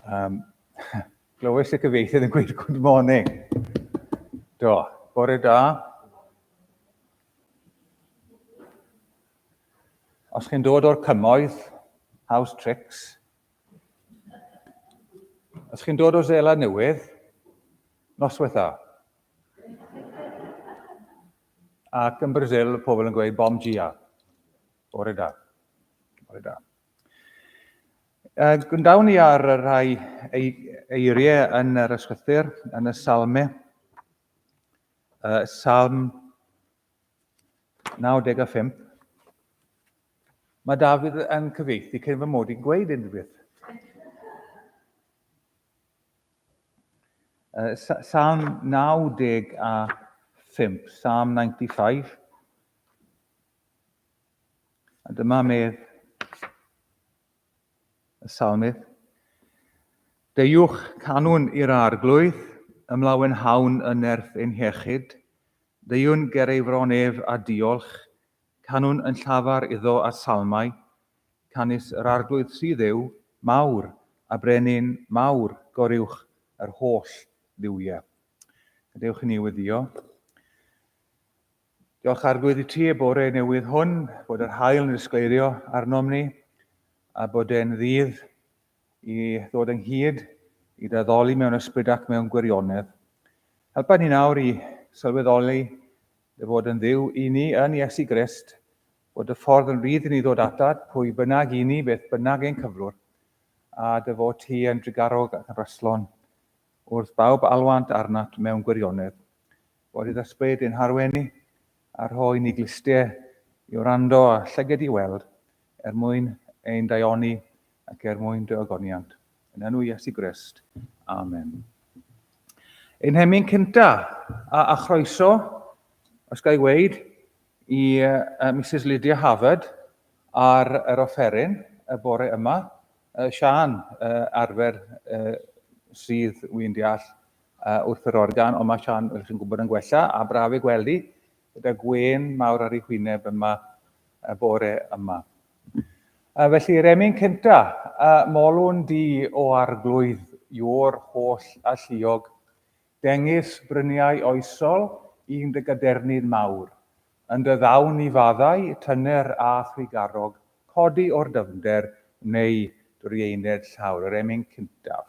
Um, glywes y cyfeisydd yn gweud good morning. Do, bore da. Os chi'n dod o'r cymoedd, house tricks. Os chi'n dod o Zela Newydd, noswetha. Ac yn Brazil, pobl yn gweud bom gia. Bore da. Bore da. Uh, Gwyndawn ni ar y rhai eiriau yn yr ysgrythyr, yn y salme. Uh, salm 95. Mae Dafydd yn cyfeithi cyn fy mod i'n gweud unrhyw beth. Uh, salm 95, Psalm 95. A dyma medd y salmydd. Deuwch canwn i'r arglwydd, ymlawen hawn yn nerth ein hiechyd. Deuwn ger ei fron ef a diolch, canwn yn llafar iddo a salmau. Canys yr arglwydd sydd yw, mawr, a brenin mawr goriwch yr holl dduwiau. Gadewch i ni weddio. Diolch Arglwydd i ti y bore newydd hwn, bod yr hael yn ysgleirio arnom ni, a bod e'n ddydd i ddod ynghyd i daddoli mewn ysbryd ac mewn gwirionedd. Helpa ni nawr i sylweddoli dy fod yn ddiw i ni yn Iesu Grist, bod y ffordd yn rydd i ni ddod atad, pwy bynnag i ni, beth bynnag ein cyflwr, a dy fod ti yn drugarog ac yn rastlon wrth bawb alwant arnat mewn gwirionedd. Bod i'r ysbryd ein harwenu a rhoi ni glustiau i wrando a llyged i weld, er mwyn ein daioni ac er mwyn dy ogoniant. Yn enw Iesu Grist. Amen. Ein hemyn cynta a, a chroeso, os gael weid, i uh, Mrs Lydia Havard ar yr offeryn y bore yma. Uh, Sian uh, arfer uh, sydd, wy'n deall, uh, wrth yr organ, ond mae Sian, fel chi'n gwybod, yn gwella, a braf ei gweld hi, gyda gwen mawr ar ei hwyneb yma y bore yma. Uh, felly, Remy'n cynta, uh, molwn di o arglwydd yw'r holl a lliog, dengys bryniau oesol i'n dy gadernid mawr, yn dy ddawn i faddau, tyner a thrigarog, codi o'r dyfnder, neu drieined llawr, yr emyn cyntaf.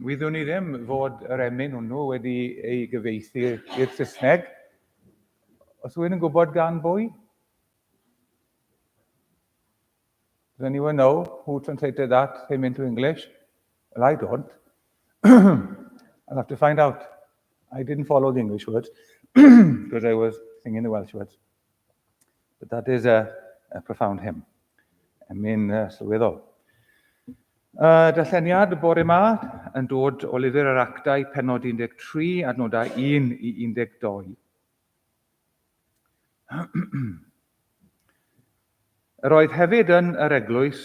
Wyddwn i ddim fod yr emyn hwnnw wedi ei gyfeithi i'r Saesneg. Os yw'n yn gwybod gan bwy? Does anyone know who translated that him into English? Well, I don't. I'll have to find out. I didn't follow the English words because I was singing the Welsh words. But that is a, a profound hymn. Emi'n uh, sylweddol. Uh, darlleniad y bore yma yn dod o lyfr yr actau penod 13 adnodau 1 i 12. Yr oedd hefyd yn yr eglwys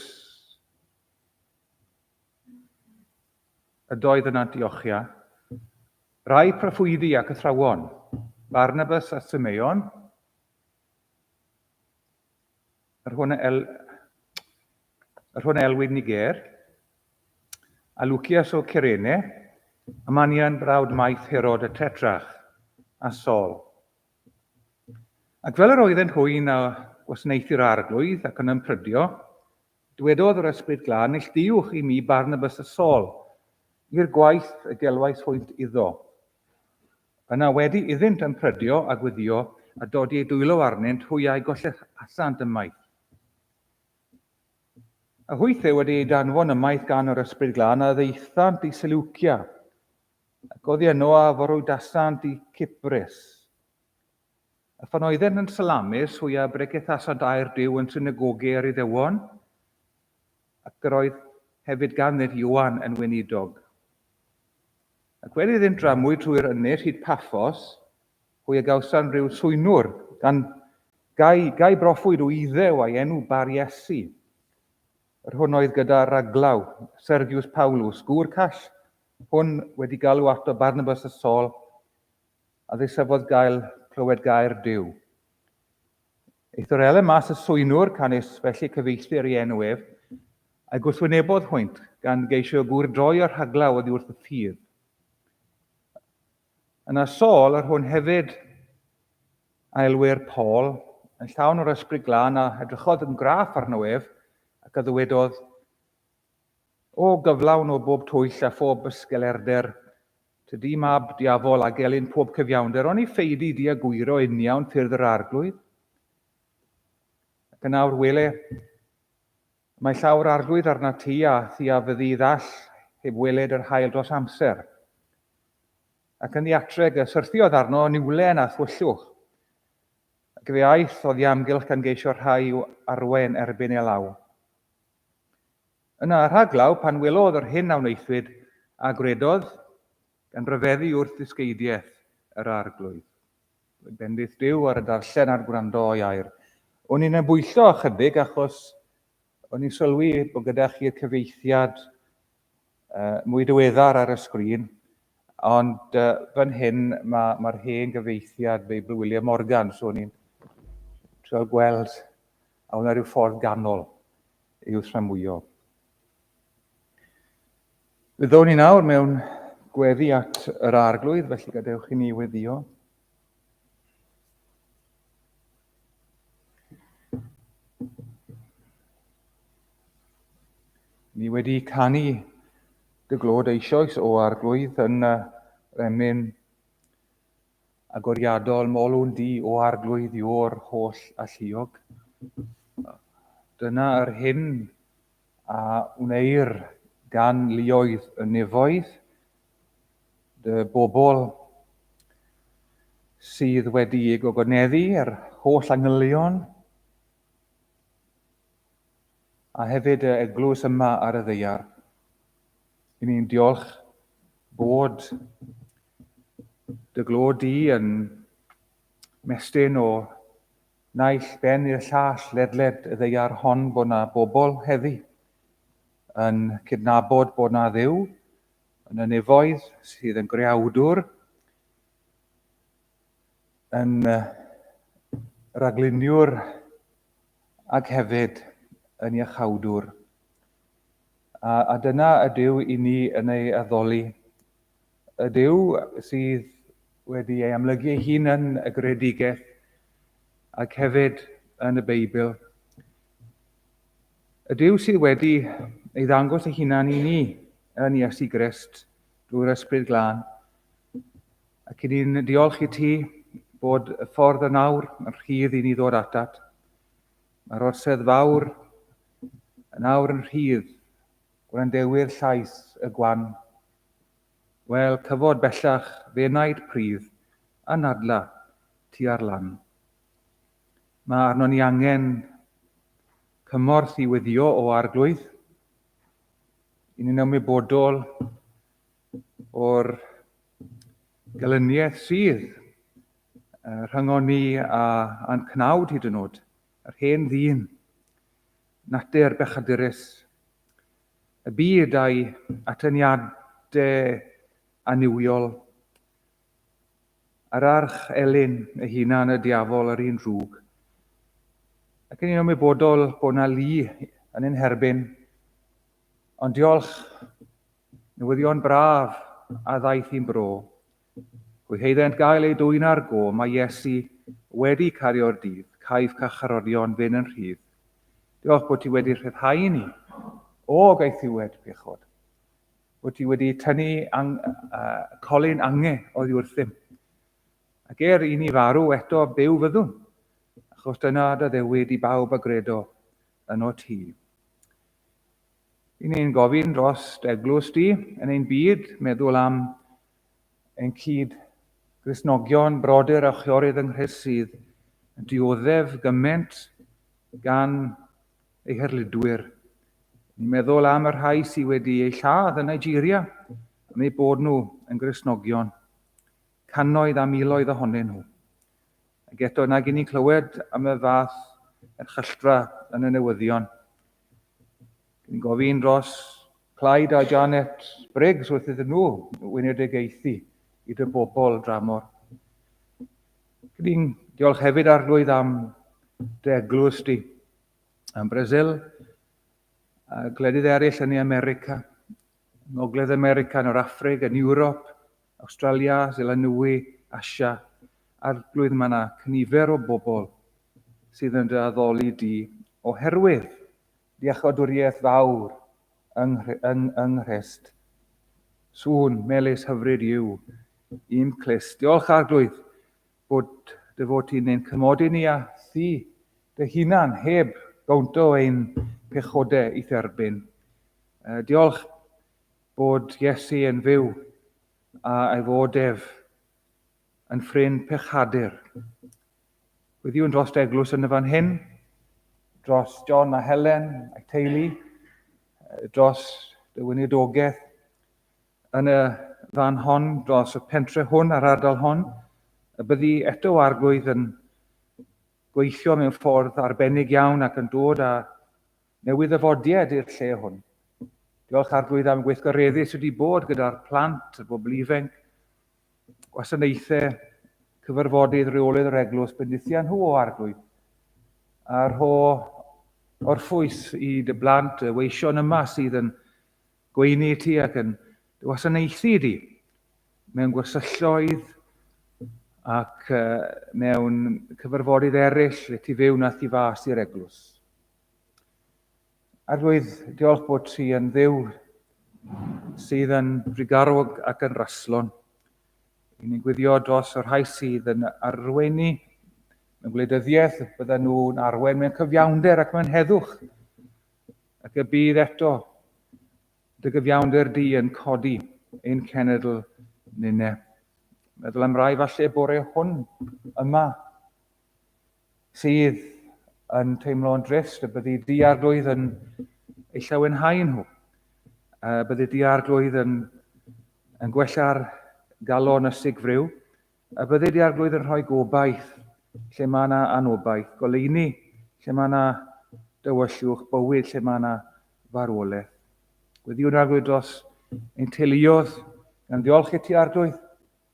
Ydoedd yna diochia. Rai proffwydi ac athrawon, Barnabas a Simeon, yr hwn a el, yr hwn a elwid Niger, a Lucias o Cyrene, a Manian brawd maith Herod y Tetrach, a Sol. Ac fel yr oeddent hwy'n a gwasnaethu'r arglwydd ac yn ymprydio, Dwedodd yr Ysbryd Glân neillduwch i mi Barnabas a Saul i'r gwaith y gelwais hwynt iddo. Yna wedi iddynt ymprydio a gwyddio a dodi eu dwylo arnynt hwy a'u gollehasant ymaith. A hwythau wedi eu danfon ymaith gan yr Ysbryd Glân a ddeithant i Seleucia, ac oddi yno a forwydasant i Cyprus. A phan oeddent yn salamus, hwya bregethasant air Duw yn synagoge yr Iddewon, ac yr oedd hefyd ganddynt Ioan yn weinidog. Ac fel iddynt dramwyd trwy'r ynys hyd Paffos, hwya gawsan rhyw swynwr, gan gai, gai broffwyd o Iddew a'i enw Bar Iesu. Yr hwn oedd gyda raglaw, Sergius Paulus, gŵr call, hwn wedi galw ato Barnabas a Saul, A ddisebodd gael clywed gair Duw. Eith yr ele mas y swynwr canys felly cyfeilltir i enw ef, a'i gwrthwynebodd hwynt, gan geisio gŵr droi y rhaglaw oddi wrth y ffydd. Yna Saul, yr hwn hefyd a elwir Paul, yn llawn o'r ysbryd glân a edrychodd yn graff arno ef, ac a ddywedodd, O gyflawn o bob twyll a phob bysgelerder, tydi mab diafol a gelyn pob cyfiawnder, oni feidi di a gwyro uniawn ffyrdd yr Arglwydd? Ac yn awr wele, mae llaw'r Arglwydd arna ti, a thi a fyddi ddall heb weled yr hael dros amser. Ac yn ddiatreg y syrthiodd arno niwlen a thwyllwch, ac fe aeth o ddiamgylch gan geisio rhai i'w arwain erbyn ei law. Yna rhaglaw pan welodd yr hyn a wnaethwyd, a gwredodd, gan ryfeddu wrth ddysgeidiaeth yr Arglwydd. Roedd bendith Duw ar y darllen a'r gwrando o'i air. O'n i'n embwyllo ychydig achos o'n i'n sylwi bod gyda chi'r cyfieithiad uh, mwy diweddar ar y sgrin, ond uh, fan hyn mae'r ma hen gyfeithiad Beibl William Morgan, so ni'n trio gweld a wna rhyw ffordd ganol i'w tramwyo. Byddwn ni nawr mewn gweddi at yr arglwydd, felly gadewch i ni weddio. Ni wedi canu dy glod eisoes o arglwydd yn y remyn agoriadol molwn di o arglwydd yw'r holl alluog. Dyna yr hyn A wneir gan luoedd y nefoedd, dy bobl sydd wedi'u gogoneddu, yr holl angylion, a hefyd y eglwys yma ar y ddeiar. Yn ni'n diolch bod dy glod di yn mestyn o Naill ben i'r llall ledled y ddaear hon bod 'na bobl heddi yn cydnabod bod 'na Dduw yn y nefoedd sydd yn greawdwr, yn ragluniwr ac hefyd yn iachawdwr. A, a dyna ydyw i ni yn ei addoli ydyw sydd wedi ei amlygu ei hun yn y greadigaeth ac hefyd yn y Beibl. Ydyw sydd wedi ei ddangos ei hunan i ni yn Iesu Grist drwy'r Ysbryd Glân. Ac i ni'n diolch i ti bod y ffordd yn awr yn rhydd i ni ddod atat. Mae'r orsedd fawr yn awr yn rhydd gwrandewyr llais y gwan Wel, cyfod bellach fe wnaed pridd a nadla tua'r lan. Mae arnon ni angen cymorth i weddio o arglwydd. I ni'n ymwybodol o'r gelyniaeth sydd rhyngon ni a a'n cnawd hyd yn oed, yr hen ddyn, natur bechadurus, Y byd a'i atyniadau annuwiol. Yr arch elyn ei hunan, y diafol, yr un drwg. Ac yn un ymwybodol bod na lu yn ein herbyn. Ond diolch, newyddion braf a ddaeth i'n bro. Hwy heiddynt gael eu dwyn ar go, mae Iesu wedi cario'r dydd, caiff carcharorion fyn' yn rhydd. Diolch bod ti wedi rhyddhau i ni o gaethiwed pechod. Bod ti wedi tynnu ang, uh, colyn ange oddi wrthym. Ac er i ni farw eto byw fyddwn, achos dyna dy ddewyd i bawb a gredo yn o ti. Yn ein gofyn dros eglwys di, yn ein byd, meddwl am ein cyd Gristnogion, brodyr a chwiorydd yng Nghrist sydd yn dioddef gymaint gan ei herlidwyr. Ni'n meddwl am y rhai sydd wedi eu lladd yn Nigeria am eu bod nhw yn Gristnogion, cannoedd a miloedd ohonyn nhw. Ac eto, nag i ni'n clywed am y fath erchylltra yn y newyddion. Dwi'n gofyn dros Clyde a Janet Briggs wrth iddyn nhw wynedegaethu i dy bobl dramor. Dwi'n diolch hefyd arglwydd am dy eglwys di, am Brasil, a gwledydd eraill yn ei America, Ngogledd America, yn yr Affrig, yn Ewrop, Awstralia, Seland Newy, Asia, Arglwydd mae yna cynifer o bobl sydd yn dy addoli di oherwydd dy iachawdwriaeth fawr yng Nghrist. Sŵn melys hyfryd yw un clust. Diolch Arglwydd bod dy fod ti'n ein cymodi ni a thi dy hunan heb gawnt o ein pechodau i'th erbyn. Diolch bod Iesu yn fyw a ei fod ef yn ffrind pechadur. Gwyddiwn dros eglwys yn y fan hyn, dros John a Helen a'i teulu, dros y weinidogaeth yn y fan hon, dros y pentre hwn a'r ardal hon, y byddi eto o arglwydd yn gweithio mewn ffordd arbennig iawn ac yn dod â newydd-ddyfodied i'r lle hwn. Diolch Arglwydd am gweithgareddu sydd wedi bod gyda'r plant, y bobl ifanc, gwasanaethau, cyfarfodydd, reolydd yr eglwys, bendithiau nhw o Arglwydd. A rho orffwys i dy blant y weision yma sydd yn gweini i ti ac yn dy wasanaethu di mewn gwersylloedd ac mewn cyfarfodydd eraill lle ti fyw nath i fas i'r eglwys. Arglwydd, diolch bod ti yn ddiw sydd yn frigarwg ac yn raslon. I ni'n gwyddio dros y rhai sydd yn arweini mewn gwleidyddiaeth, bydden nhw'n arwen mewn cyfiawnder ac mewn heddwch. Ac y bydd eto dy gyfiawnder di yn codi ein cenedl nynne. Meddwl am rai falle bore hwn yma sydd yn teimlo yn drist, y byddi di arglwydd yn ei llawenhau nhw. Y byddi di arglwydd yn, yn gwella'r galon y sigfryw, y byddi di arglwydd yn rhoi gobaith lle mae yna anobaith, goleini lle mae yna dywyllwch, bywyd lle mae yna farwolaeth. Gweddiwn arglwydd dros ein teuluodd, gan ddiolch i ti arglwydd,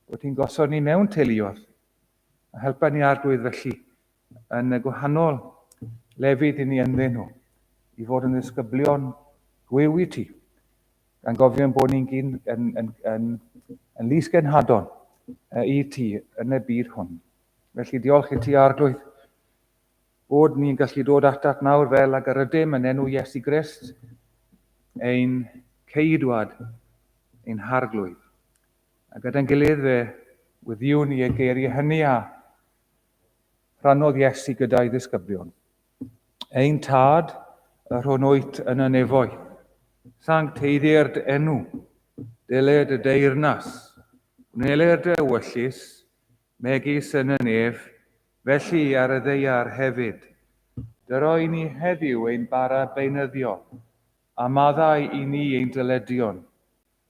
bod ti'n gosod ni mewn teuluodd, A helpa ni Arglwydd felly yn y gwahanol lefydd i ni ynddyn nhw, i fod yn ddisgyblion gwyw i ti, gan gofio yn bod ni'n gyn, yn, yn, yn, yn lys genhadon i ti yn y byd hwn. Felly diolch i ti Arglwydd bod ni'n gallu dod atat nawr fel ag yr ydym yn enw Iesu Grist, ein ceidwad, ein harglwydd. A gyda'n gilydd fe wyddiwn i ei geiriau hynny a rhannodd Iesu gyda'i ddisgyblion. Ein tad, yr hwn wyt yn y nefoedd, sancteiddiau'r dy enw, dyle dy deyrnas, gwneler dy ewyllus, megis yn y nef, felly ar y ddeiar hefyd. Dyro i ni heddiw ein bara beunyddiol, a maddau i ni ein dyledion,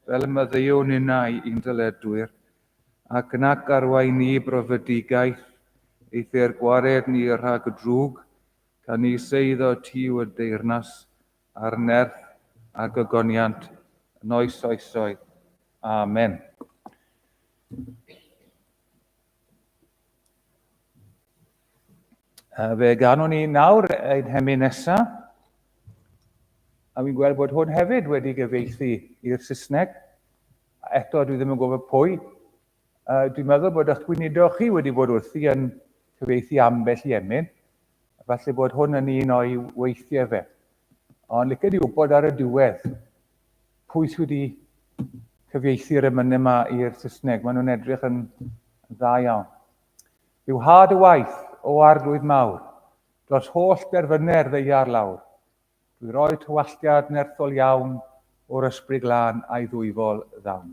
Fel y maddeuo ninnau i'n dyledwyr, ac nac arwain ni i brofedigaeth, eithr gwared ni rhag y drwg, ca ni seiddo tiu y deyrnas, a'r nerth, a gogoniant, yn oes oesoedd. Amen. A fe ganwn ni nawr ein hemi nesaf. A fi'n gweld bod hwn hefyd wedi gyfeithi i'r Saesneg. A eto, dwi ddim yn gwybod pwy. A dwi'n meddwl bod eich gweinidog chi wedi bod wrthi yn cyfeithi ambell i emyn. Falle bod hwn yn un o'i weithiau fe. Ond licen i wybod ar y diwedd, Pwy sydd wedi cyfieithu'r emynau yma i'r Saesneg? Maen nhw'n edrych yn, yn dda iawn. Yw had y waith o arglwydd mawr, dros holl derfynau ddeiar lawr. Dwi roi tywalltiad nerthol iawn o'r ysbryd glân a'i ddwyfol ddawn.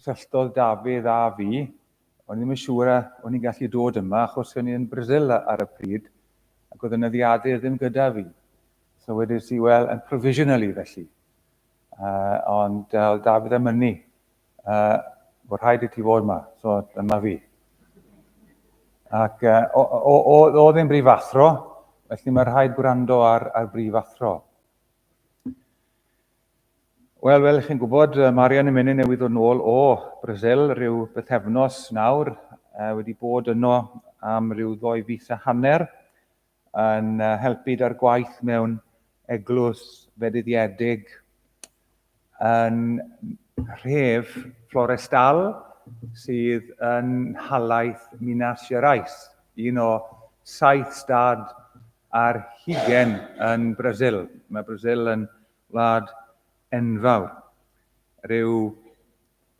Cysylltodd Dafydd â fi, o'n i ddim yn siŵr a o'n i'n gallu dod yma achos o'n i yn Brasil ar y pryd ac oedd y nyddiadur ddim gyda fi. So wedes i, wel, yn provisionally felly. Uh, ond uh, oedd Dafydd yn mynnu, uh, bod rhaid i ti fod yma, so dyma fi. Ac uh, oedd o, ddim brif athro, felly mae rhaid gwrando ar, ar brif athro. Wel, fel chi'n gwybod, mae Arian yn mynd newydd ddod nôl o Brasil rhyw bythefnos nawr, uh, wedi bod yno am rhyw ddoi fus a hanner, yn uh, helpu da'r gwaith mewn eglwys fedyddiedig yn rhef Florestal sydd yn halaeth Minas Gerais, un o saith stad ar hugain yn Brasil. Mae Brasil yn wlad enfawr. Rhyw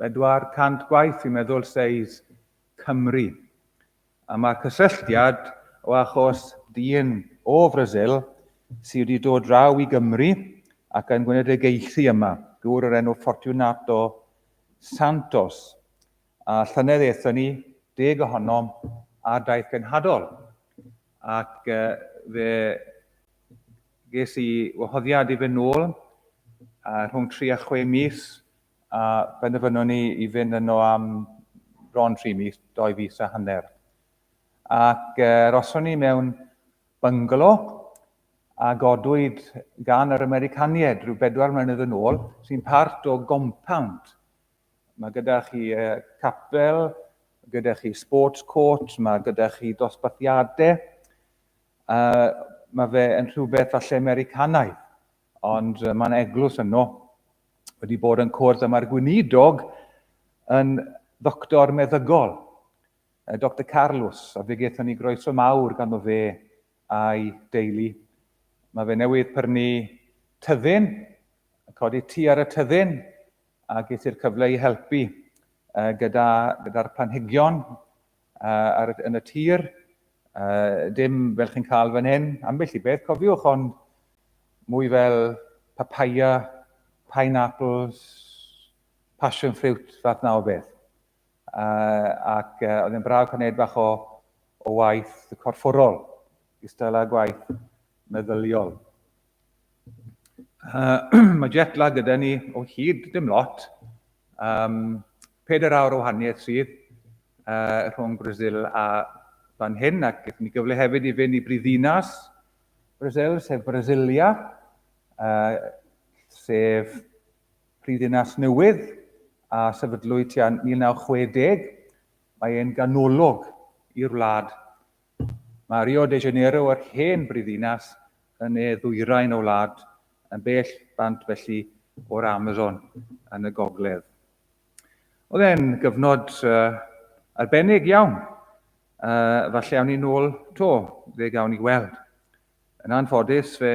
400 gwaith, fi'n meddwl, seis Cymru. A mae'r cysylltiad o achos dyn o Frasil sydd wedi dod draw i Gymru ac yn gwneud ei geithi yma, gŵr o'r enw Fortunato Santos. A llynedd aethon ni, deg ohonom, ar daith genhadol. Ac uh, fe ges i wahoddiad i fynd nôl uh, rhwng 3 a 6 mis a benderfynon ni i fynd yno am bron 3 mis, 2 fis a hanner. Ac uh, roson ni mewn byngalo a godwyd gan yr Americanied rhyw bedwar mlynedd yn ôl, sy'n part o gompawnd Mae gyda chi capel, gyda chi sports court, mae gyda chi dosbarthiadau. Uh, mae fe yn rhywbeth falle Americanaidd, ond mae'n eglwys yno. Wedi bod yn cwrdd yma'r gweinidog yn ddoctor meddygol, Dr Carlos, a fe gaethon ni groeso mawr ganddo fe a'i deulu. Mae fe newydd prynu tyddyn, codi tu ar y tyddyn, a ges i'r cyfle i helpu uh, gyda'r gyda, gyda planhigion uh, ar, yn y tir. Uh, dim fel chi'n cael fan hyn, ambell i beth, cofiwch, ond mwy fel papaya, pineapples, passion fruit, fath na o beth. uh, ac uh, oedd yn braf cael gwneud bach o, o waith corfforol, gystal â gwaith meddyliol. Uh, mae jet lag gyda ni o hyd, dim lot. Um, peder awr o wahaniaeth sydd uh, rhwng Brazil a fan hyn, ac gyda ni gyfle hefyd i fynd i brifddinas Brazil, sef Brasilia, uh, sef Prifddinas newydd a sefydlwyd tua 1960. Mae e'n ganolog i'r wlad. Mae Rio de Janeiro, yr hen brifddinas, yn ne ddwyrain y wlad, yn bell bant felly o'r Amazon yn y gogledd. Oedd e'n gyfnod uh, arbennig iawn. Uh, falle awn ni nôl to, fe gawn ni weld. Yn anffodus, fe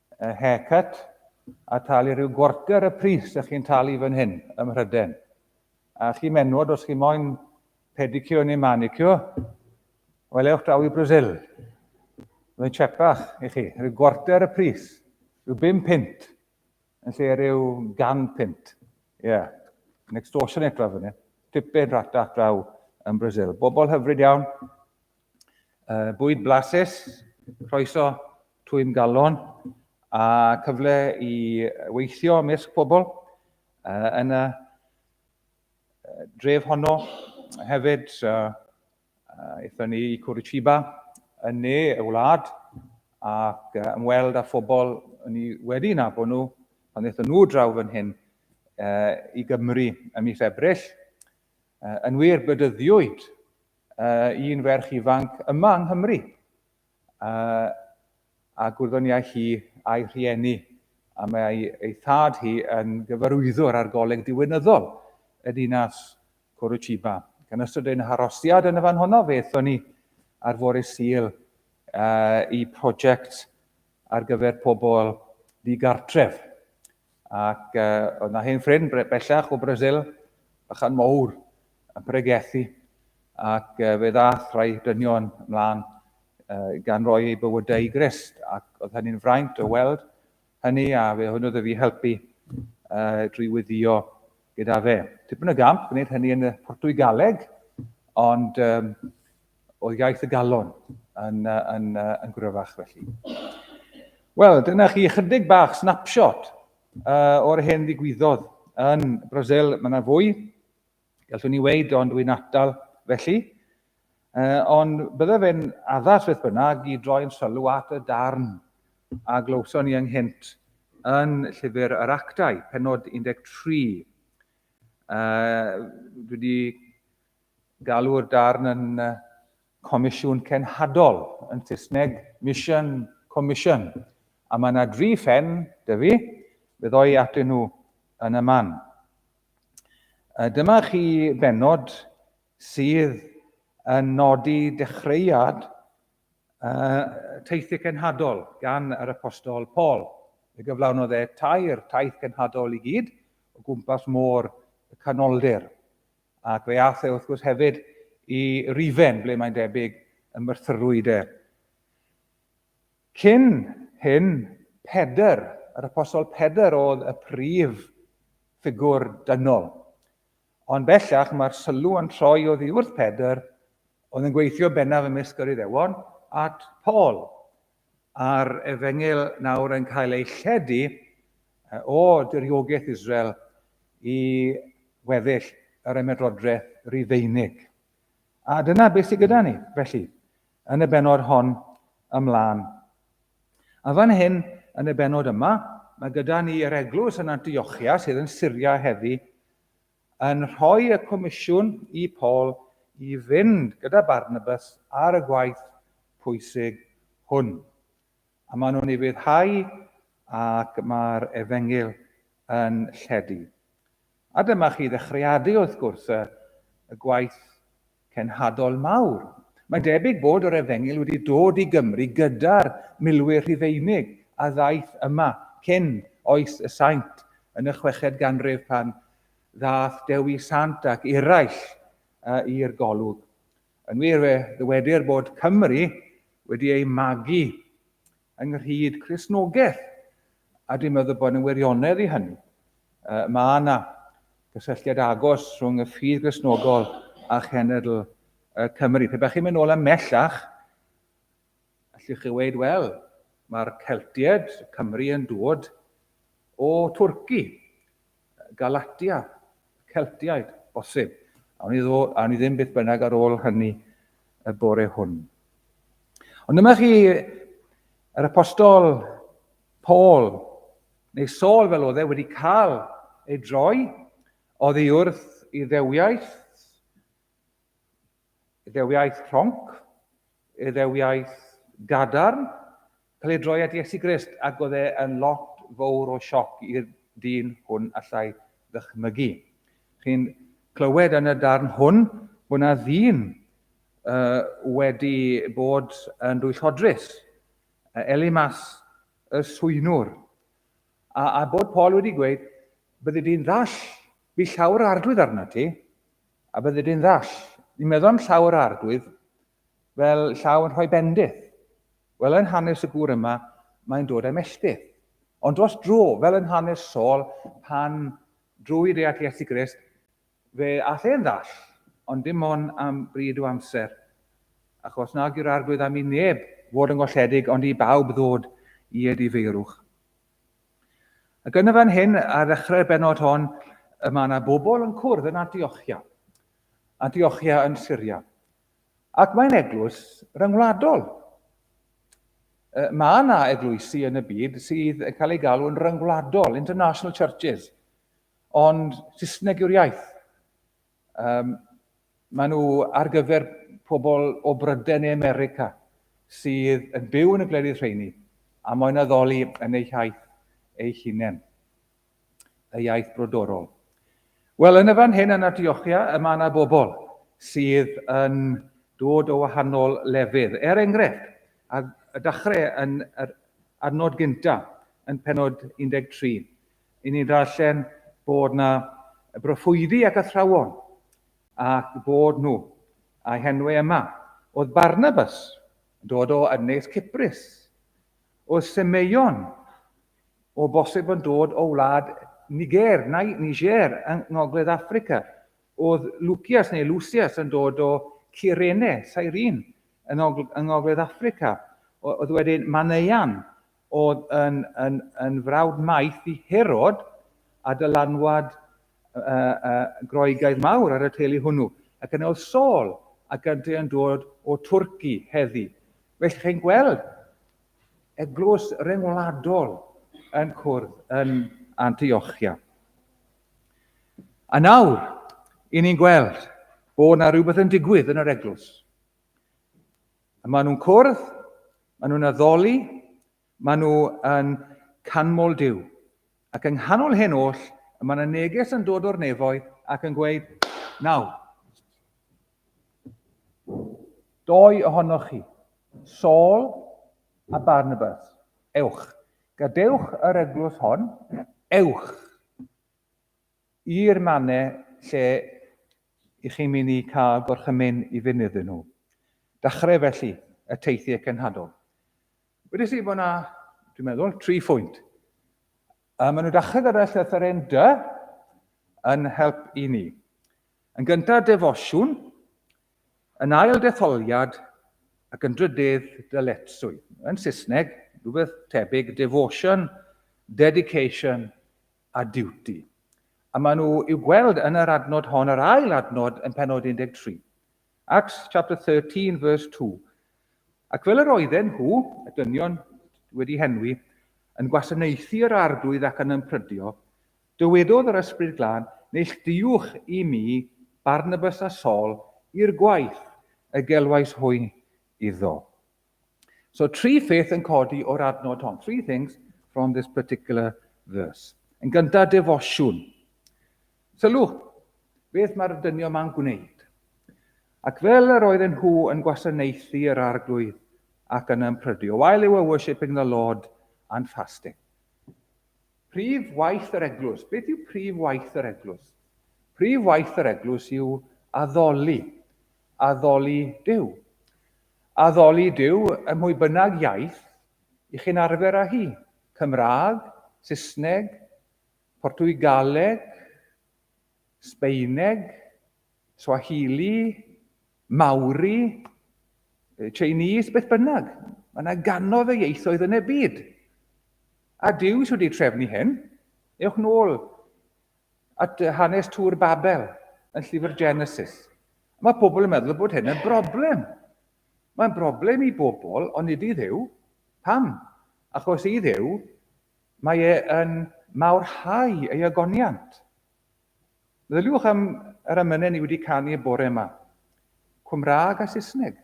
Y haircut, a talu rhyw gwarter y pris ych chi'n talu fan hyn, ym Mhryden. A chi menwod, os chi moyn pedicure neu manicure, wel ewch draw i Brazil. Mae'n chepach i chi, rhyw gwarter y pris, rhyw bum pint, yn lle rhyw gan pint. Ie, yeah. yn extortionate draw fan hyn. Tipyn rhata draw yn Brazil. Bobl hyfryd iawn, uh, bwyd blasus, croeso twym galon a cyfle i weithio ymysg pobl uh, yn y dref honno. Hefyd, uh, uh, eithon ni i Curitiba yn ne y wlad ac uh, ymweld â phobl ni wedi nabod nhw pan eithon nhw draw fan hyn uh, i Gymru ym mis Ebrill. Yn wir, bedyddiwyd un ferch ifanc yma yng Nghymru a gwyddoniai hi a'i rhieni a mae ei thad hi yn gyfarwyddwr ar goleg diwinyddol y dinas Curitiba. Gan ystod ein harosiad yn y fan honno, fe ethon ni ar fore Sul i prosiect ar gyfer pobl ddigartref. Ac uh, oedd na hen ffrind bellach o Brasil, bychan mowr, yn pregethu. Ac uh, fe ddath rhai dynion ymlaen uh, gan roi ei bywydau i Grist. Ac oedd hynny'n fraint o weld hynny a fe hwnnw oedd fi helpu uh, drwy wyddio gyda fe. Tipyn o gamp gwneud hynny yn y Portwy Galeg, ond um, oedd iaith y galon yn, yn, yn gryfach felly. Wel, dyna chi ychydig bach snapshot uh, o'r hen ddigwyddodd yn Brasil. Mae yna fwy, gallwn ni weid, ond dwi'n atal felly. Uh, ond bydde fe'n addas beth bynnag i droi'n sylw at y darn a glywson ni ynghynt yn llyfr yr actau, penod 13. Uh, dwi wedi Galw'r darn yn Comisiwn Cenhadol, yn Saesneg Mission Commission, a mae yna dri phen, da fi, fe ddoi atyn nhw yn y man. A dyma chi benod sydd yn nodi dechreuad uh, teithiau cenhadol gan yr apostol Paul. Y gyflawnodd e tair taith cenhadol i gyd o gwmpas môr y canoldir. ac fe aeth e wrth gwrs hefyd i Rufen, ble mae'n debyg y myrthyrwyd e. Cyn hyn, Pedr, yr Apostol Pedr oedd y prif ffigwr dynol. Ond bellach mae'r sylw yn troi oddi wrth Pedr oedd yn gweithio bennaf ymysg yr Iddewon at Paul, a'r efengyl nawr yn cael ei lledu o diriogaeth Israel i weddill yr ymerodraeth Rufeinig. A dyna beth sydd gyda ni, felly, yn y benod hon ymlaen. A fan hyn, yn y benod yma, mae gyda ni yr eglwys yn Antiochia sydd yn Syria heddi, yn rhoi y comisiwn i Paul i fynd gyda Barnabas ar y gwaith pwysig hwn. A maen nhw'n ufuddhau ac mae'r efengyl yn lledu. A dyma chi ddechreadu wrth gwrs y gwaith cenhadol mawr. Mae'n debyg bod yr Efengyl wedi dod i Gymru gyda'r milwyr Rhufeinig a ddaeth yma cyn oes y Saint yn y chweched ganrif pan ddaeth Dewi Sant ac eraill i'r golwg. Yn wir, fe ddywedir bod Cymru wedi eu magu ynghyd Cristnogaeth, a dwi'n meddwl bod yna wirionedd i hynny. Uh, mae yna gysylltiad agos rhwng y ffydd Gristnogol a chenedl uh, Cymru. Pe bych chi'n mynd nôl ymellach, allwch chi weid, wel, mae'r Celtiaid, Cymru yn dod o Twrci. Galatia, Celtiaid, bosib. Awn ni, ddod, awn ni ddim beth bynnag ar ôl hynny y bore hwn. Ond dyma chi yr apostol Paul, neu Saul fel oedd e, wedi cael ei droi oddi wrth Iddewiaeth, Iddewiaeth rhonc, Iddewiaeth gadarn, cael ei droi at Iesu Grist ac oedd e yn lot fowr o sioc i'r dyn hwn allai ddychmygu. Chi'n clywed yn y darn hwn bod yna ddyn uh, wedi bod yn dwyllodrus, uh, Elimas y swynwr, a, a bod Paul wedi gweud, byddi di'n ddall, bu llawr arglwydd arna ti, A byddid yn ddall. Ni meddwn llaw yr arglwydd fel llaw yn rhoi bendith. Wel yn hanes y gŵr yma, mae'n dod â'i melltith. Ond dros dro, fel yn hanes Saul, pan drwy deall Iesu Grist, fe all e'n ddall, ond dim ond am bryd o amser. Achos nag yw'r arglwydd am i neb fod yn golledig, ond i bawb ddod i ei difeirwch. Ac yn y fan hyn, ar ddechrau'r benod hon, y mae yna bobl yn cwrdd yn Antiochia. Antiochia yn Syria. Ac mae'n eglwys ryngwladol. E, mae yna eglwysi yn y byd sydd yn cael ei galw yn ryngwladol, international churches. Ond Saesneg yw'r iaith. Um, maen nhw ar gyfer pobl o Bryden neu America sydd yn byw yn y gwledydd rheini a mae'n addoli yn eu hiaith eu hunain, y iaith brodorol. Wel, yn y fan hyn yn Antiochia, y mae yna bobl sydd yn dod o wahanol lefydd. Er enghraifft, a y dachrau yn yr adnod gyntaf yn penod 13, I ni ddarllen bod 'na broffwydi ac athrawon, ac bod nhw, a'u henwau yma, oedd Barnabas, yn dod o Ynys Cyprus, oedd Semeion, o bosib yn dod o wlad Niger, neu Niger, yng Ngogledd Affrica, oedd Lucias neu Lucias yn dod o Cyrene, Cyrene, yng Ngogledd Affrica, oedd wedyn Maneuan, Oedd yn yn yn frawd maith i Herod a dylanwad Groegaidd mawr ar y teulu hwnnw. Ac yna oedd Saul, a gynti yn dod o Twrci heddi. Felly chi'n gweld eglwys ryngwladol yn cwrdd yn Antiochia. A nawr, i ni'n gweld bod yna rhywbeth yn digwydd yn yr eglwys. A maen nhw'n cwrdd, maen nhw'n addoli, maen nhw yn canmol Dyw. Ac yng nghanol hyn oll, y mae yna neges yn dod o'r nefoedd ac yn gweud, nawr, doi ohonoch chi, Saul a Barnabas, ewch, gadewch yr eglwys hon, ewch i'r mannau lle i chi mi ni cael gorchymyn i fynd iddyn nhw. Dachreu felly y teithiau cenhadol. Wedys i bod yna, dwi'n meddwl, tri phwynt. Mae maen nhw dachrau gyda llythyren dy yn help i ni. Yn gyntaf defosiwn, yn ail detholiad ac yn drydydd dyletswydd. Yn Saesneg, rhywbeth tebyg, devotion, dedication, a Duty, a maen nhw i'w gweld yn yr adnod hon, yr ail adnod yn penod 13. Acts chapter 13 verse 2. Ac fel yr oedden nhw, y dynion wedi henwi, yn gwasanaethu yr arglwydd ac yn ymprydio, dywedodd yr Ysbryd Glân, Neillduwch i mi Barnabas a Saul i'r gwaith y gelwais hwy iddo. So, tri pheth yn codi o'r adnod hon. Three things from this particular verse. Yn gyntaf, defosiwn. Sylw, beth mae'r dynion ma'n gwneud. Ac fel yr oedd yn nhw yn gwasanaethu yr arglwydd ac yn ymprydio, while they were worshipping the Lord and fasting. Prif waith yr eglwys. Beth yw prif waith yr eglwys? Prif waith yr eglwys yw addoli, addoli Dyw. Addoli Duw ym mhwy bynnag iaith y'ch chi'n arfer â hi, Cymraeg, Saesneg, Portwgaleg, Sbaeneg, Swahili, Maori, Chinese, beth bynnag. Mae yna ganodd y ieithoedd yn y byd. A Duw sydd wedi trefnu hyn, ewch nôl at hanes Tŵr Babel yn llyfr Genesis. Mae pobl yn meddwl bod hyn yn broblem. Mae'n broblem i bobl, ond nid i ddew. Pam? Achos i ddew, mae e yn mawrhau ei agoniant. Meddyliwch am yr amynau ni wedi canu y bore yma. Cymraeg a Saesneg.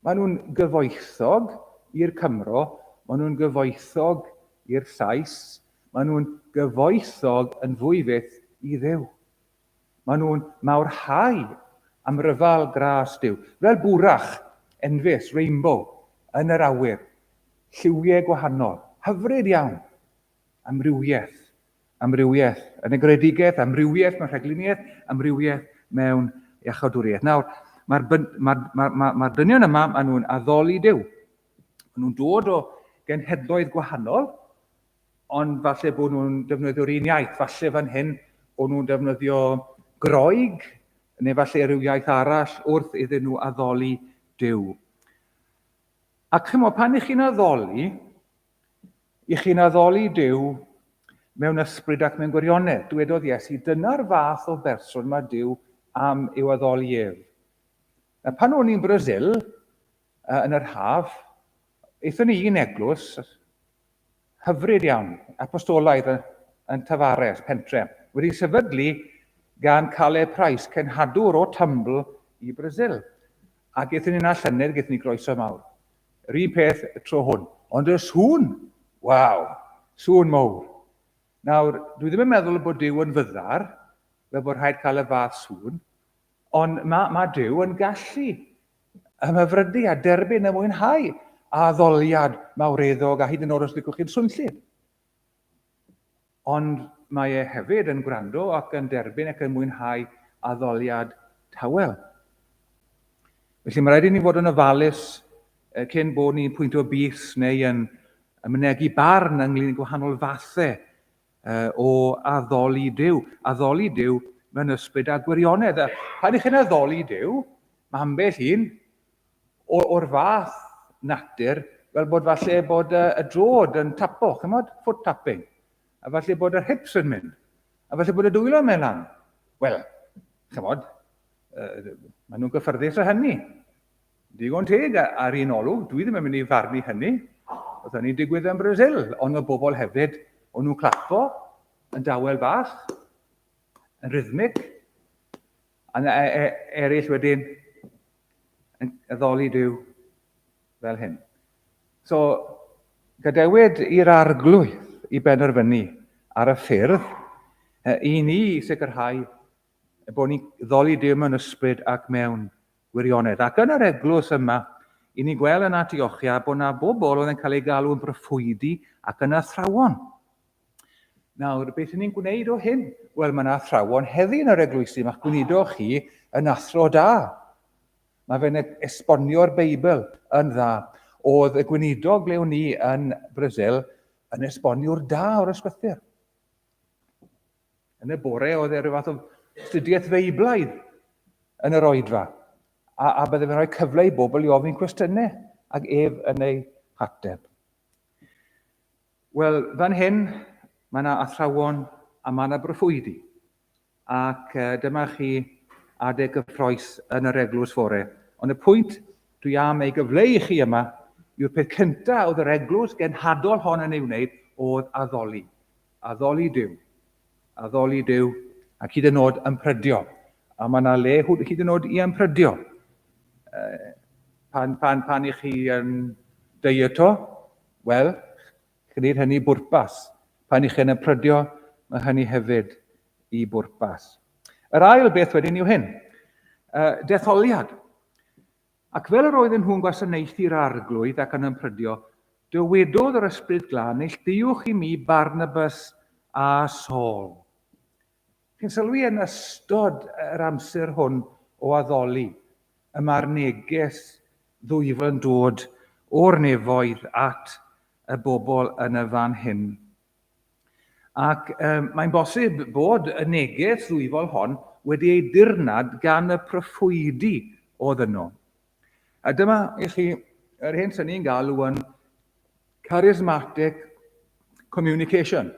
Maen nhw'n gyfoethog i'r Cymro, maen nhw'n gyfoethog i'r Sais, Maen nhw'n gyfoethog yn fwy fyth i Dduw. Maen nhw'n mawrhau am ryfel gras Duw, fel bwrach enfys, rainbow, yn yr awyr, lliwiau gwahanol, hyfryd iawn, amrywiaeth, amrywiaeth yn y gredigedd, amrywiaeth mewn rhagluniaeth, amrywiaeth mewn iachawdwriaeth. Nawr, mae'r ma, ma, ma, ma dynion yma, maen nhw'n addoli Duw. Maen nhw'n dod o genhedloedd gwahanol, ond falle bod nhw'n defnyddio'r un iaith. Falle fan hyn bod nhw'n defnyddio groeg, neu falle rhyw iaith arall wrth iddyn nhw addoli Dyw. Ac chymod, pan ych chi'n addoli, ych chi'n addoli Dyw mewn ysbryd ac mewn gwirionedd. Dwedodd Iesu, dyna'r fath o berson mae Dyw am i'w addoli ef. A pan o'n i'n Brasil, Yy, yn yr haf, aethon ni i un eglwys hyfryd iawn, apostolaidd yn, yn Tafares, pentre, wedi sefydlu gan Caleb Price, cenhadwr o Tumbl i Brasil. Ac aethon ni yna llynedd, gaethon ni groeso mawr. Yr un peth y tro hwn. Ond y sŵn, waw, sŵn mowr. Nawr, dwi ddim yn meddwl bod Dyw yn fyddar, fel bod rhaid cael y fath sŵn, Ond mae, mae Duw yn gallu ymhyfrydu a derbyn a mwynhau a addoliad mawreddog a hyd yn oed os dygwch chi'n swnllyd. Ond mae e hefyd yn gwrando ac yn derbyn ac yn mwynhau addoliad tawel. Felly mae rhaid i ni fod yn ofalus cyn bod ni'n pwynt o bys neu yn mynegu barn ynglyn â gwahanol fathau o addoli Duw. Addoli Duw mewn ysbryd a gwirionedd. A pan ych chi'n addoli Duw, mae ambell un o'r fath natur fel bod falle bod y, y drod yn tapo, chymod, foot tapping, a falle bod yr hips yn mynd, a falle bod y dwylo mewn lan. Wel, chymod, uh, maen nhw'n gyffyrddus o hynny. Digon teg, ar un olwg, dwi ddim yn mynd i farnu hynny. Oedd hynny'n digwydd yn Brasil, ond y bobl hefyd, o'n nhw'n clappo yn dawel bach, yn rhythmic, a e, e, eraill wedyn yn addoli Dyw fel hyn. So, gadewyd i'r arglwydd i benderfynu ar y ffyrdd i ni sicrhau bod ni'n ddoli Dyw mewn ysbryd ac mewn Gwirionedd. Ac yn yr eglws yma, i ni gweld yn Antiochia bod yna bobl oedd yn cael ei galw yn broffwydi ac yn athrawon. Nawr, beth ni'n gwneud o hyn? Wel, mae yna athrawon heddi yn yr eglwysi, mae'ch gwnido chi yn athro da. Mae fe'n e- esbonio'r Beibl yn dda. Oedd y gweinidog le ni yn Brasil yn esboniwr da o'r ysgrythyr. Yn y bore, oedd e rhyw fath o astudiaeth Feiblaidd yn yr oedfa, a, a byddai fe'n rhoi cyfle i bobl i ofyn cwestiynau, ac ef yn ei hateb. Wel, fan hyn, mae yna athrawon a mae yna broffwydi, ac uh, dyma chi adeg gyffroes yn yr eglwys fore. Ond y pwynt dwi am ei gyfleu i chi yma yw'r peth cyntaf oedd yr eglwys genhadol hon yn ei wneud oedd addoli. Addoli Duw. Addoli Duw ac hyd yn oed ymprydio. A mae yna le hyd yn oed i ymprydio. Pan, pan, pan i chi yn dyeto, wel, gwneud hynny bwrpas. Pan i chi yn ymprydio, mae hynny hefyd i bwrpas. Yr ail beth wedyn yw hyn. Uh, detholiad. Ac fel yr oedden nhw'n gwasanaethu'r Arglwydd ac yn ymprydio, dywedodd yr Ysbryd Glân, Neillduwch i mi Barnabas a Saul. Chi'n sylwi yn ystod yr amser hwn o addoli, y mae'r neges ddwyfol yn dod o'r nefoedd at y bobl yn y fan hyn. Ac um, mae'n bosib bod y neges ddwyfol hon wedi ei dirnad gan y proffwydi oedd yno. A dyma i chi yr hyn sy'n ni'n galw yn charismatic communication,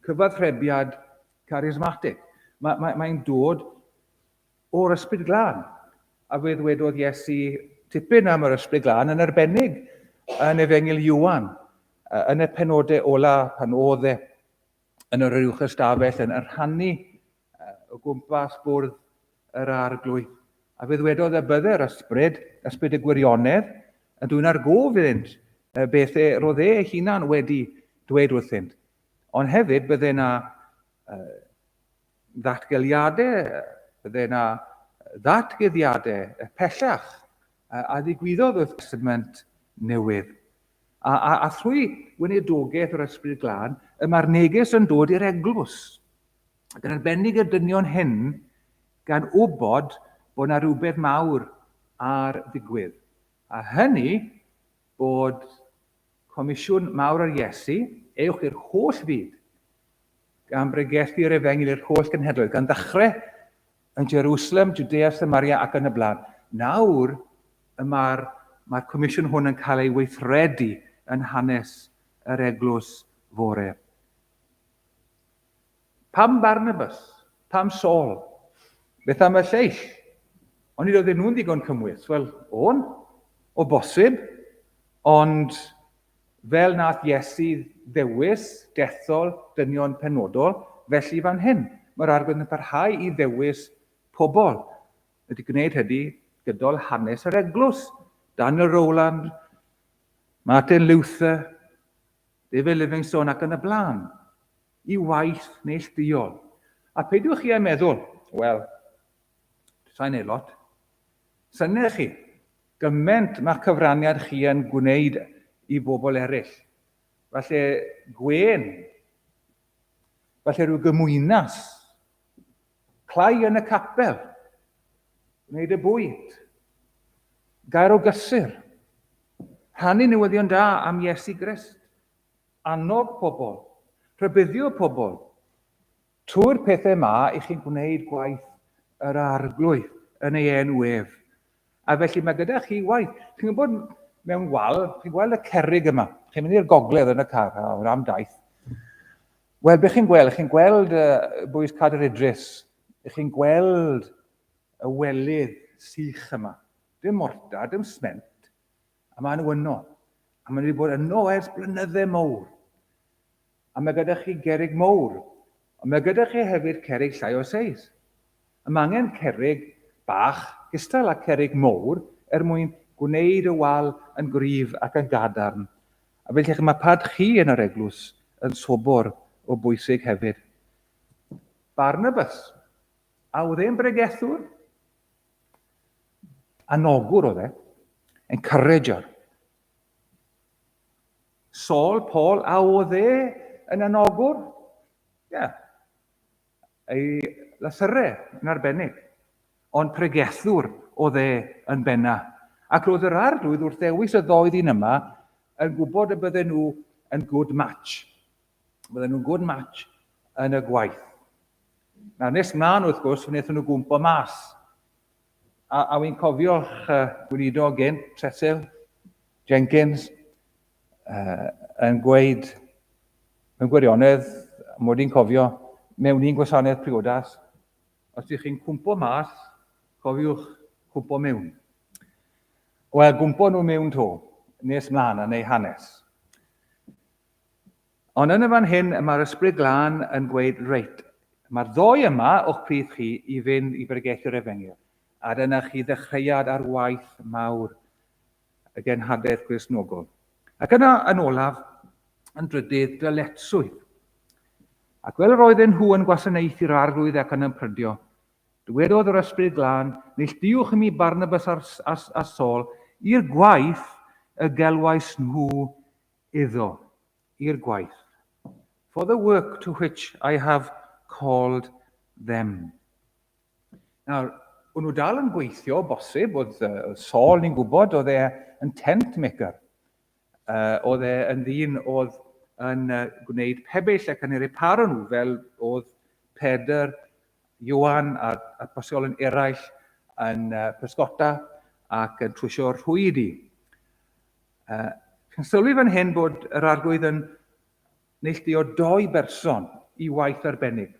cyfathrebiad charismatic. Mae'n mae, mae dod O'r Ysbryd Glân. A fe ddwedodd Iesu tipyn am yr Ysbryd Glân, yn arbennig yn Efengyl Iwan, yn y penodau ola pan oedd e yn yr uwch ystafell yn rhannu o gwmpas bwrdd yr arglwydd. A fe ddwedodd y bydde'r ysbryd, ysbryd y gwirionedd, yn dwy'n argof iddynt beth e roedd e hunan wedi dweud wrthynt. Ond hefyd bydde na Ddatgeliadau, bydde yna ddatguddiadau pellach a ddigwyddodd wrth Destament Newydd, a, a, a thrwy weinidogaeth yr Ysbryd Glân, y mae'r neges yn dod i'r eglwys. Ac yn arbennig y dynion hyn, gan wybod bod yna rhywbeth mawr ar ddigwydd. A hynny bod Comisiwn mawr ar Iesu, ewch i'r holl fyd, gan bregethu'r efengyl i'r holl genhedloedd, gan ddechrau yn Jerusalem, Judea, Samaria ac yn y blaen. Nawr, y mae'r mae comisiwn hwn yn cael ei weithredu yn hanes yr eglwys fore. Pam Barnabas? Pam Saul? Beth am y lleill? Ond nid oedden nhw'n ddigon cymwys. Wel, o'n, o bosib, ond fel nath Iesu ddewis dethol dynion penodol, felly fan hyn, mae'r arglwydd yn parhau i ddewis pobl. Wedi gwneud hynny gydol hanes yr eglwys. Daniel Rowland, Martin Luther, Be fe Livingstone ac yn y blaen. I waith neillduol. A peidiwch chi â meddwl, wel, sa'n ei lot. Synnech chi, gyment mae'ch cyfraniad chi yn gwneud i bobl eraill. Falle gwên, falle rhyw gymwynas Cloi yn y capel. Gwneud y bwyd. Gair o gysur. Rhannu newyddion da am Iesu Grist. Annog pobl. Rhybuddio pobl. Trwy'r pethau yma, i chi'n gwneud gwaith yr Arglwydd yn ei enw ef. A felly mae gyda chi waith. Chi'n gwybod, mewn wal, chi'n gweld y cerrig yma. Chi'n mynd i'r gogledd yn y car, a hwnna am daith. Wel, beth chi'n gweld? Chi'n gweld uh, bwys Cader Idris. Chi'n gweld y welydd sych yma. Dim morta, dim sment. A maen nhw yno. A maen nhw wedi bod yno ers blynydde mowr. A mae gyda chi gerrig mowr. Ond mae gyda chi hefyd cerrig llai o seis. A mae angen cerrig bach gystal â cerrig mowr er mwyn gwneud y wal yn gryf ac yn gadarn. A felly chi, mae pad chi yn yr eglwys yn sobor o bwysig hefyd. Barnabas, a oedd e'n bregethwr? Anogwr oedd e. Encourager. Saul, Paul, a oedd e yn anogwr? Ie. Yeah. Ei lasyrre yn arbennig. Ond pregethwr oedd e yn benna. Ac roedd yr arglwydd wrth ddewis y ddoedd un yma yn gwybod y bydden nhw yn good match. Bydden nhw'n good match yn y gwaith. Nawr, nes mlaen wrth gwrs, wnaethon nhw gwmpo mas. A, a wy'n cofio'ch uh, gweinidog gen, Tresil, Jenkins, uh, yn gweud, mewn gwirionedd, mod i'n cofio, mewn un gwasanaeth priodas, os ydych chi'n cwmpo mas, cofiwch cwmpo mewn. Wel, gwmpo nhw mewn to, nes mlaen yn ei hanes. Ond yn y fan hyn, mae'r Ysbryd Glân yn gweud, Reit, mae'r ddoi yma o'ch plith chi i fynd i bregeth yr Efengyl, a dyna chi ddechreuad ar waith mawr y genhadaeth Gristnogol. Ac yna, yn olaf, yn drydydd, dyletswydd. Ac fel yr oedden nhw yn gwasanaethu'r arglwydd ac yn ymprydio, dywedodd yr Ysbryd Glân, Neilltuwch i mi Barnabas a, a, a Saul i'r gwaith y gelwais nhw iddo, i'r gwaith, for the work to which I have called them. Nawr, o'n nhw dal yn gweithio, bosib, oedd uh, Saul ni'n gwybod, oedd e yn tent maker. Uh, oedd e yn ddyn oedd yn uh, gwneud pebyll ac yn ei reparo nhw, fel oedd Pedr, Iwan a, a bosol yn eraill yn uh, pysgota ac yn trwysio'r rhwyd i. Uh, chi'n sylwi fan hyn bod yr arglwydd yn neilltuo doi berson i waith arbennig.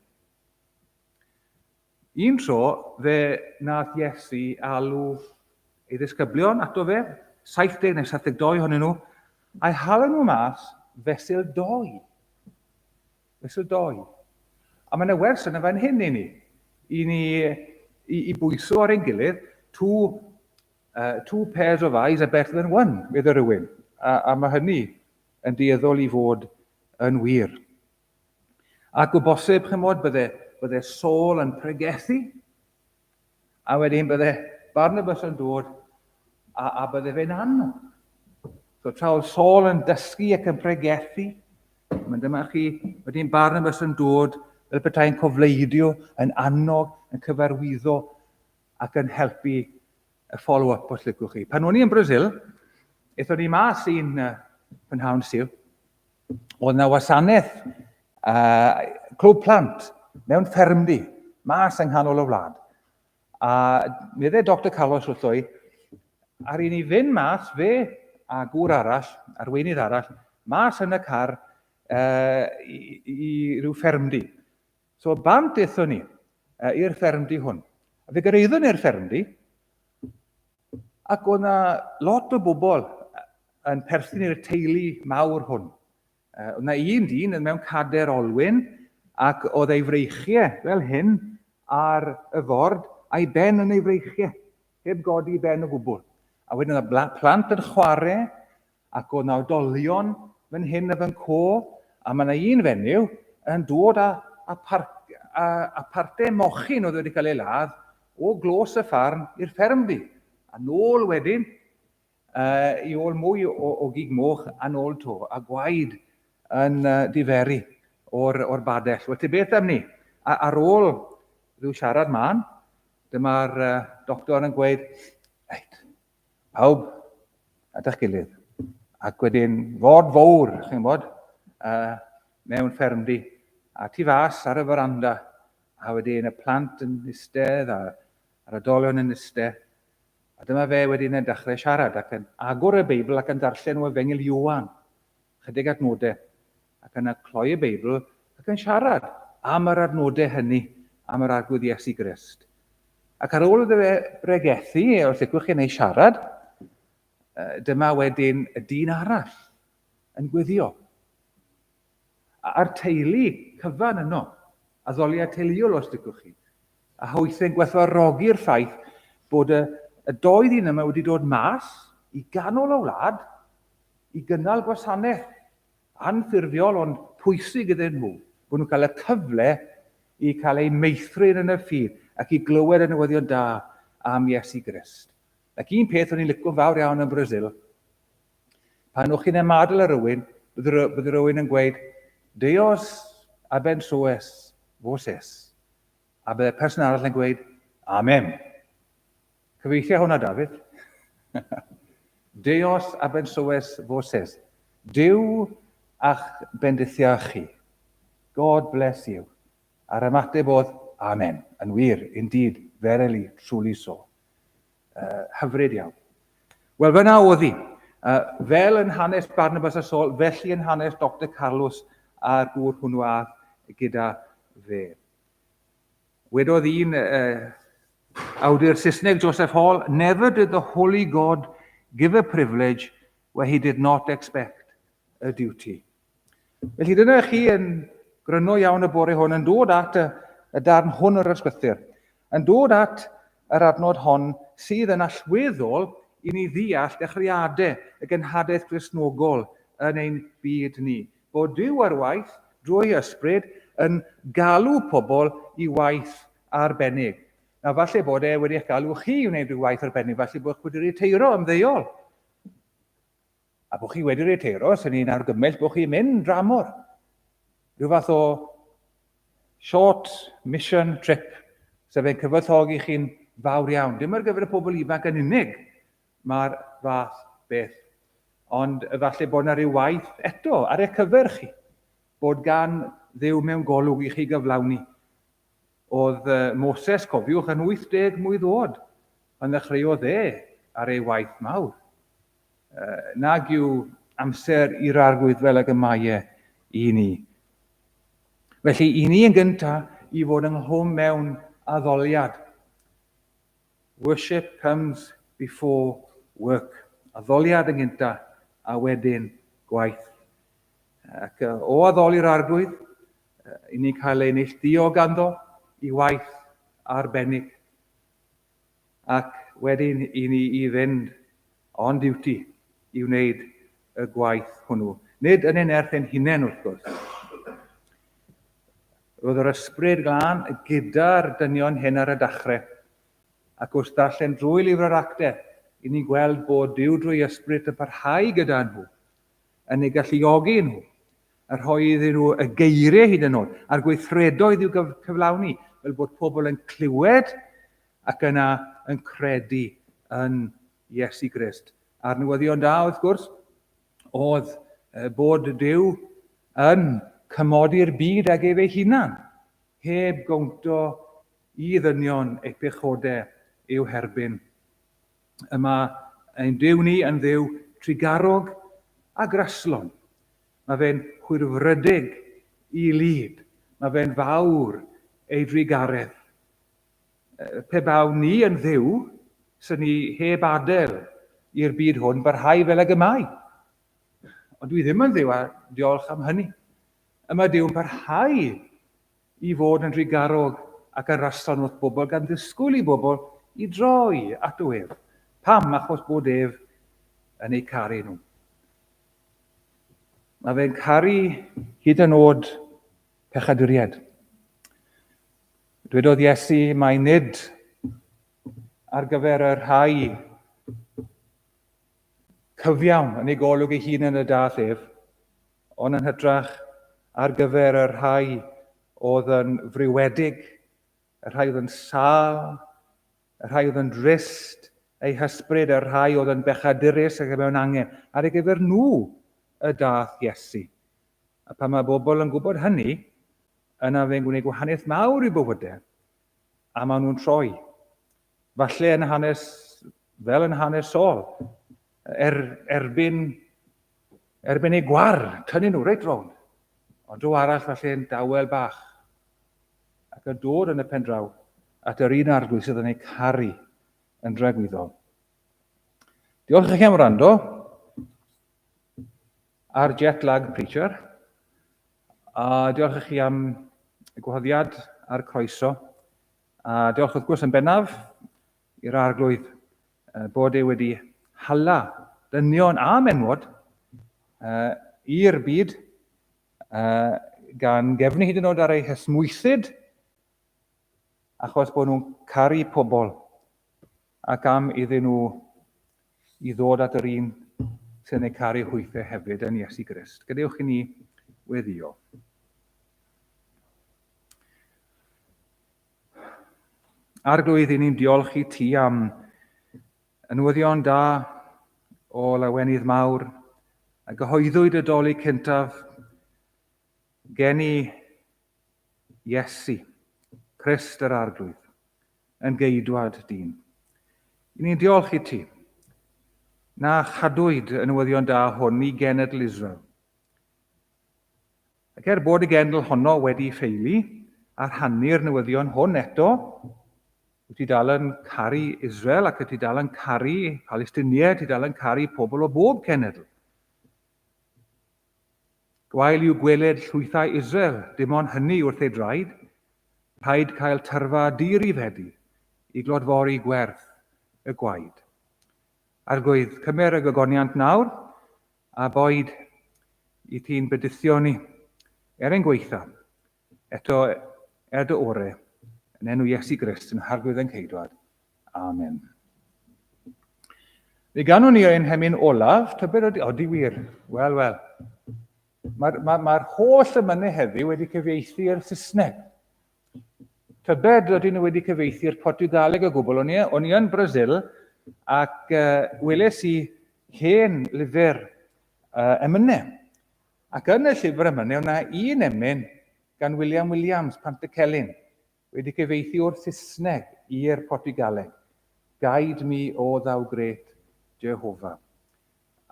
Un tro, fe nath Iesu alw ei ddisgyblion ato fe, 70 neu 72 honyn nhw, a'i hala nhw mas fesul doi. Fesul doi. A mae yna wers yna fan hyn i ni, i ni i, i bwyso ar ein gilydd, tu Uh, two pairs of eyes are better than one, medda rhywun. A, a mae hynny yn dueddol i fod yn wir. Ac o bosib, chymod, bydde, bydde Saul yn pregethu, a wedyn bydde Barnabas yn dod a, a bydde fe'n annog. So tra oedd Saul yn dysgu ac yn pregethu, mae'n dyma chi, wedyn Barnabas yn dod fel bethau'n cofleidio, yn annog, yn cyfarwyddo, ac yn helpu y follow-up os lygwch chi. Pan o'n i yn Brazil, eithon ni mas i'n prynhawn syl, oedd na wasanaeth uh, clwb plant mewn ffermdy, mas yng nghanol y wlad. A medde Dr Carlos wrtho i, ar un i fynd mas, fe a gŵr arall, arweinydd arall, mas yn y car uh, i, i ryw ffermdy. So bant dethon ni uh, i'r ffermdy hwn. A fe gyrraeddwn i'r ffermdy, ac o'na lot o bobl yn perthyn i'r teulu mawr hwn. Uh, o'na un dyn yn mewn cader olwyn, ac oedd ei freichiau fel hyn ar y ford, a'i ben yn ei freichiau, heb godi ben o gwbl. A wedyn oedd plant yn chwarae, Ac oedd 'na odolion fan hyn a fan co, a mae 'na un fenyw yn dod a, a, par, a, a parte mochyn oedd wedi cael ei ladd o glos y ffarm i'r fferm ddi. A nôl wedyn, uh, i ôl mwy o, o gig moch, a nôl to, a gwaed yn uh, diferu o'r, or badell. Wel, te beth am ni? A, ar ôl rhyw siarad man, dyma'r uh, doctor yn gweud, reit, Pawb at eich gilydd. Ac wedyn fod fawr, chi'n bod, uh, mewn ffermdy, a tu fas ar y faranda, a wedyn y plant yn istedd, a yr adolion yn istedd, a dyma fe wedyn yn dechrau siarad ac yn agor y Beibl ac yn darllen o Efengil Iwan. ychydig adnodau, ac yna cloi y Beibl ac yn siarad am yr adnodau hynny, am yr Arglwydd Iesu Grist. Ac ar ôl iddo fe bregethu, os licwch chi, neu siarad, dyma wedyn y dyn arall yn gweddio. A'r teulu cyfan yno, addoliad teuluol os licwch chi, A hoeddent gwerthfawrogi'r ffaith bod y y dou ddyn yma wedi dod mas i ganol y wlad i gynnal gwasanaeth anffurfiol ond pwysig iddyn nhw, bod nhw'n cael y cyfle i cael eu meithrin yn y ffydd ac i glywed y newyddion da am Iesu Grist. Ac un peth o'n i'n licio'n fawr iawn yn Brasil, pan o'ch chi'n ymadl ar rywun, bydd rywun yn gweud, Deus abençoes voses, A byddai'r person arall yn gweud, Amen. Cyfeithia hwnna, Dafydd. Deos a bensoes foses. Dyw a'ch bendithia chi. God bless you. A'r ymateb oedd, Amen. Yn wir, indeed, verily, truly so. Uh, hyfryd iawn. Wel, fyna oedd hi. Uh, fel yn hanes Barnabas a Sol, felly yn hanes Dr Carlos a'r gŵr hwnnw a gyda fe. Wedodd un uh, awdur Saesneg, Joseph Hall, never did the holy God give a privilege where he did not expect a duty. Felly dyna chi yn gryno iawn y bore hwn yn dod at y, y darn hwn o'r ysgrythyr, yn dod at yr adnod hon sydd yn allweddol i ni ddeall dechreuadau y genhadaeth Gristnogol yn ein byd ni, bod Duw ar waith drwy ysbryd yn galw pobl i waith arbennig. Na falle bod e wedi eich galw chi i wneud rhyw waith arbennig, falle bod chi wedi riteiro ymddeol. A bod chi wedi riteiro, sy'n ni'n argymell bod chi'n mynd dramor. Rhyw fath o short mission trip, sef fe'n cyfoethogi chi'n fawr iawn. Dim ar gyfer y pobl ifanc yn unig, mae'r fath beth. Ond efallai bod yna rhyw waith eto ar eich cyfer chi, bod gan ddew mewn golwg i chi gyflawni Oedd Moses, cofiwch, yn 80 mlwydd oed pan ddechreuodd e ar ei waith mawr. Nag yw amser i'r arglwydd fel ag y mae e i ni. Felly, i ni yn gyntaf i fod ynghlwm mewn addoliad. Worship comes before work. Addoliad yn gyntaf a wedyn gwaith. Ac o addoli'r arglwydd, i ni'n cael ei neillduo ganddo i waith arbennig ac wedyn i ni i fynd on duty i wneud y gwaith hwnnw. Nid yn ei nerth ein hunain wrth gwrs. Roedd yr ysbryd glân gyda'r dynion hyn ar y dachrau, ac wrth ddarllen drwy lyfr yr acte, i ni'n gweld bod Duw drwy ysbryd yn parhau gyda nhw, yn ei galluogi nhw a rhoi iddyn nhw y geiriau hyd yn oed, a'r gweithredoedd i'w cyflawni, fel bod pobl yn clywed ac yna yn credu yn Iesu Grist. A'r newyddion da, wrth gwrs, oedd bod Dyw yn cymodi'r byd ag ef ei hunan, heb gownt o i ddynion ei pechodau i'w herbyn. y mae ein Duw ni yn dduw trugarog a graslon. Mae fe'n hwyrfrydig i lid. Mae fe'n fawr ei drugaredd. Pe bawn ni yn dduw, sy'n ni heb adael i'r byd hwn barhau fel ag y mae. Ond dwi ddim yn dduw a diolch am hynny. Y mae Duw'n parhau i fod yn rhy garog ac yn rastan wrth bobl gan ddisgwyl i bobl i droi ato ef. Pam? Achos bod ef yn eu caru nhw. Mae fe'n caru hyd yn oed pechaduriaid. Dwedodd Iesu mai nid ar gyfer y rhai cyfiawn yn ei golwg ei hun yn y dall ef, Ond yn hytrach ar gyfer y rhai oedd yn friwedig, y rhai oedd yn sâl, y rhai oedd yn drist, eu hysbryd, y rhai oedd yn bechadurus ac mewn angen. Ar ei gyfer nhw y dath Iesu. A pan mae bobl yn gwybod hynny, yna fe'n gwneud gwahaniaeth mawr i bywydau, a maen nhw'n troi Falle yn hanes, fel yn hanes Saul, er, erbyn, erbyn ei gwar, tynnu nhw reit rown. Ond o arall falle'n dawel bach, ac yn dod yn y pen draw at yr un arglwydd sydd yn ei caru yn dragwyddol. Diolch i chi am wrando ar Jet Lag Preacher, a diolch i chi am y gwahoddiad a'r croeso A diolch wrth gwrs yn bennaf i'r Arglwydd uh, bod e wedi hala dynion a menwod uh, i'r byd uh, gan gefnu hyd yn oed ar eu hesmwythyd achos bod nhw'n caru pobl. Ac am iddyn nhw i ddod at yr un sy'n eu caru hwythau hefyd, yn Iesu Grist. Gadewch i ni weddio. Arglwydd, i ni'n diolch i ti am y newyddion da o lawenydd mawr a gyhoeddwyd y doli cyntaf gen i Iesu, Christ yr Arglwydd. yn geidwad, dyn. I ni'n diolch i ti, na chadwyd y newyddion da hwn i genedl Israel. Ac er bod y genedl honno wedi ffeili a rhannu'r newyddion hwn eto, wyt ti dal yn caru Israel ac wyt ti dal yn caru Palestiniaid, ti dal yn caru pobl o bob cenedl. Gwael yw gweled llwythau Israel, dim ond hynny wrth ei draed. Rhaid cael tyrfa di-rifedi i glodfori gwerth y gwaed. Arglwydd, cymer y gogoniant nawr, a boed i ti'n byduthioni, er ein gweitha, Eto, er dy ore, yn enw Iesu Grist, yn harglwydd ein ceidwad. Amen. Fe ganwn ni ein hemyn olaf, tybed ydy, odi wir, wel, wel. Mae'r ma, ma holl ymynnu heddiw wedi cyfeithi i'r Saesneg. Tybed ydy nhw wedi cyfeithi i'r Portugaleg o gwbl, o'n i, on i yn Brazil, ac uh, weles i hen lyfr uh, emynau. Ac yn y llyfr yma wnewn na un emyn gan William Williams, Pant y Celyn, wedi cyfeithi o'r Saesneg i'r Portiwgaleg, Guide me, O thou great Jehovah.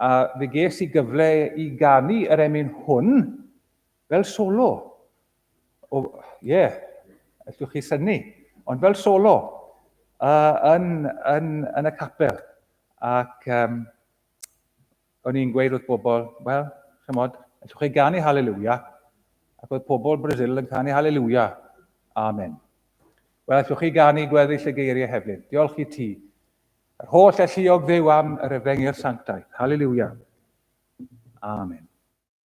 A fe ges i gyfle i ganu yr emyn hwn fel solo. O, ie, yeah, allwch chi syni, ond fel solo uh, yn, yn, yn y capel. Ac um, O'n i'n gweud wrth bobl, wel, chymod, allwch chi ganu Hallelujah, ac oedd pobl Brazil yn canu Hallelujah, Amen. Wel, allwch chi ganu gweddill y geiriau hefyd, diolch i ti, yr holl alluog dduw am yr efengyl sanctaidd, Hallelujah, Amen.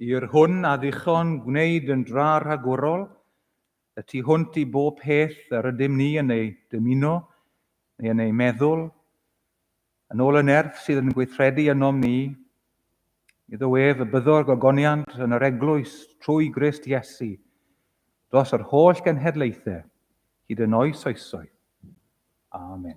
I'r hwn a ddichon gwneyd yn dra rhagorol, y tu hwnt i bob peth yr ydym ni yn ei dymuno neu yn ei meddwl, yn ôl y nerth sydd yn gweithredu ynom ni, iddo ef y byddo'r gogoniant yn yr eglwys trwy Grist Iesu, dros yr holl genhedlaethau, hyd yn oes oesoedd. Amen.